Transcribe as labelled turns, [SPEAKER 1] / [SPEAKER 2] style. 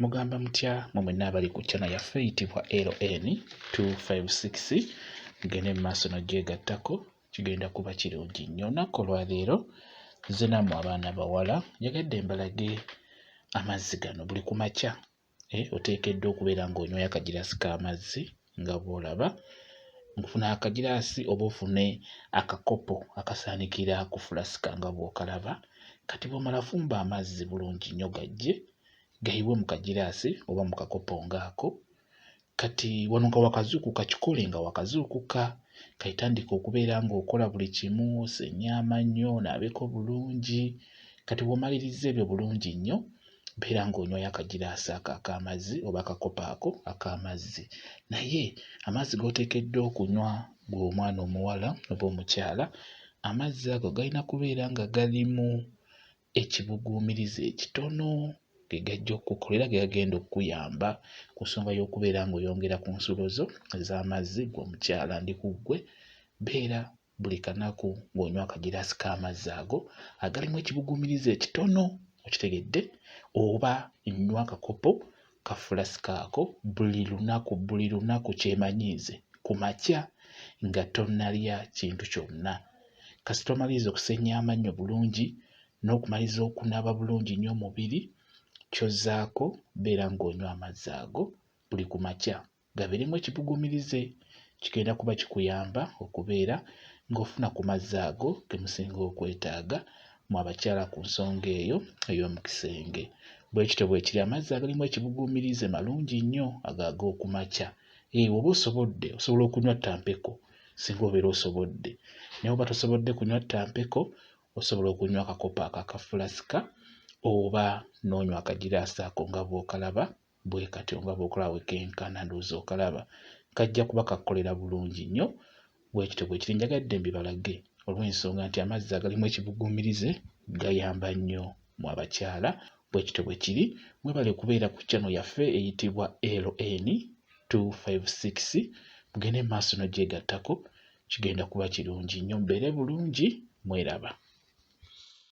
[SPEAKER 1] Mugamba mutya mwe mwenna abali ku chana yaffe eyitibwa LN 256 mugende mu maaso nogyegattako kigenda kuba kirungi nnyo olunaku olwaleero nze namwe abaana bawala njagadde mbalage amazzi gano buli ku makya eh, oteekeddwa okubeera ng'onywaya akagirasi k'amazzi nga bw'olaba ng'ofuna akagiraasi oba ofune akakopo akasaanikira ku fulasika nga bw'okalaba kati bw'omala fumba amazzi bulungi nnyo gajje gayibwe mu kagiraasi oba mu kakopo ng'ako kati wano nga wakazuukuka kikole nga wakazuukuka kaitandika okubeera ng'okola buli kimu osenye amannyo onaabeko bulungi kati bw'omaliriza ebyo bulungi nnyo beera ng'onywayo akagiraasi ako ak'amazzi oba akakopo ako ak'amazzi naye amazzi g'oteekeddwa okunywa gwe omwana omuwala oba omukyala amazzi ago galina kubeera nga galimu ekibuguumiriza ekitono ge gajja okukukola era ge gagenda okukuyamba ku nsonga y'okubeera ng'oyongera ku nsulo zo ez'amazzi gwe omukyala ndi ku ggwe beera buli kanaku ng'onywa akagiraasi k'amazzi ago agalimu ekibuguumirize ekitono okitegedde oba nnywa akakopo ka fulasika ako buli lunaku buli lunaku kyemanyiize ku makya nga tonnalya kintu kyonna kasita omaliriza okusenya amannyo bulungi n'okumaliza okunaaba bulungi nnyo omubiri kyozzaako beera ng'onywa amazzi ago buli ku makya gabeeremu ekibugumirize kigenda kuba kikuyamba okubeera ng'ofuna ku mazzi ago ge musinga okwetaaga mu abakyala ku nsonga eyo ey'omu kisenge. Bwe kityo bwe kiri amazzi agalimu ekibuguumirize malungi nnyo ago ag'oku makya. Ee, eh, oba osobodde osobola okunywa ttampeko singa obeera osobodde. Naye oba tosobodde kunywa ttampeko osobola okunywa akakopo ako akafulasika oba n'onywa akagiraasi ako nga bw'okalaba bwekatyo nga bwokulaba wekenkana ndowooza okalaba kajja kuba kakukolera bulungi nnyo bwekityo bwekiri njagadde mbibalage olw'ensonga nti amazzi agalimu ekibuguumirize gayamba nnyo mu abakyala bwekityo bwekiri mwebale kubeera ku kyano yaffe eyitibwa LN 256 mugende mu maaso nogyegattako kigenda kuba kirungi nnyo mbeere bulungi mweraba.